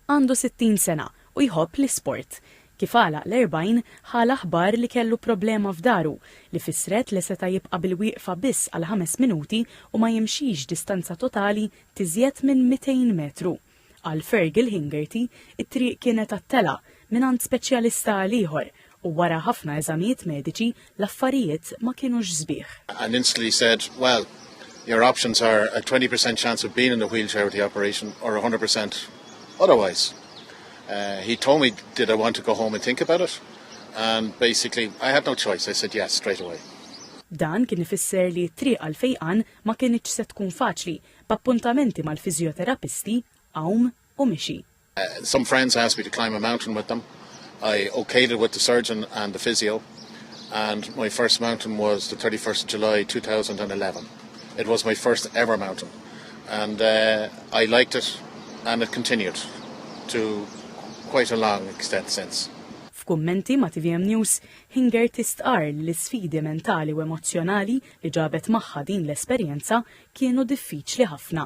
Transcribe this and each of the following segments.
Għandu 60 sena u jħobb l-isport. Kif għalaq l-40, ħa l-aħbar li kellu problema f'dahru, li fissret li seta' jibqa' bil-wieqfa biss għal ħames minuti u ma jimxix distanza totali t'izjed minn 200 metru. Għal Fergal Hingerty, it-triq kienet għat-telgħa, mingħand speċjalista għal ieħor, U wara ħafna eżamijiet mediċi, l-affarijiet ma kienux sbieħ. And instantly said, well, your options are a 20 percent chance of being in the wheelchair with the operation or 100 percent otherwise. Uh, he told me, did I want to go home and think about it? And basically, I had no choice. I said yes straight away. Dan kien ifisser li t-triq għal fejqan ma kienx se tkun faċli, b'appuntamenti mal-fiżjoterapisti, għawm, u mixi. Some friends asked me to climb a mountain with them. I okayed it with the surgeon and the physio and my first mountain was the 31st of July 2011. It was my first ever mountain and uh, I liked it and it continued to quite a long extent since. F'kummenti ma' TVM News, Hinger tistqar li l-isfidi mentali u emozzjonali li ġabet magħha din l-esperjenza kienu diffiċli ħafna.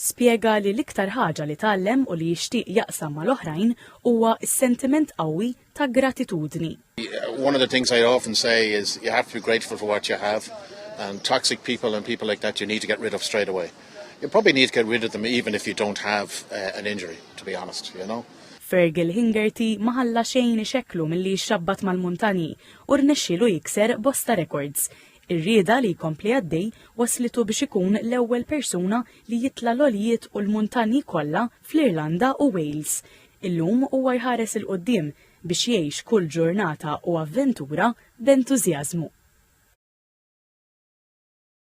Spjega li l-iktar ħaġa li tgħallem u li jixtieq jaqsam mal-oħrajn huwa s-sentiment qawwi ta' gratitudni. One of the things I often say is you have to be grateful for what you have and toxic people and people like that you need to get rid of straight away. You probably need to get rid of them even if you don't have uh, an injury, to be honest, you know. Fergal Hingerty ma ħalla xejn ixekklu milli jixxabbat mal-muntanji u rnexxielu jikser bosta rekords. Ir-rieda li jkompli għaddej wasslitu biex ikun l-ewwel persuna li jitla' l-għoljiet u l-muntanji kollha fl-Irlanda u Wales. Illum huwa jħares 'il quddiem biex jgħix kull ġurnata u avventura b'entużjażmu.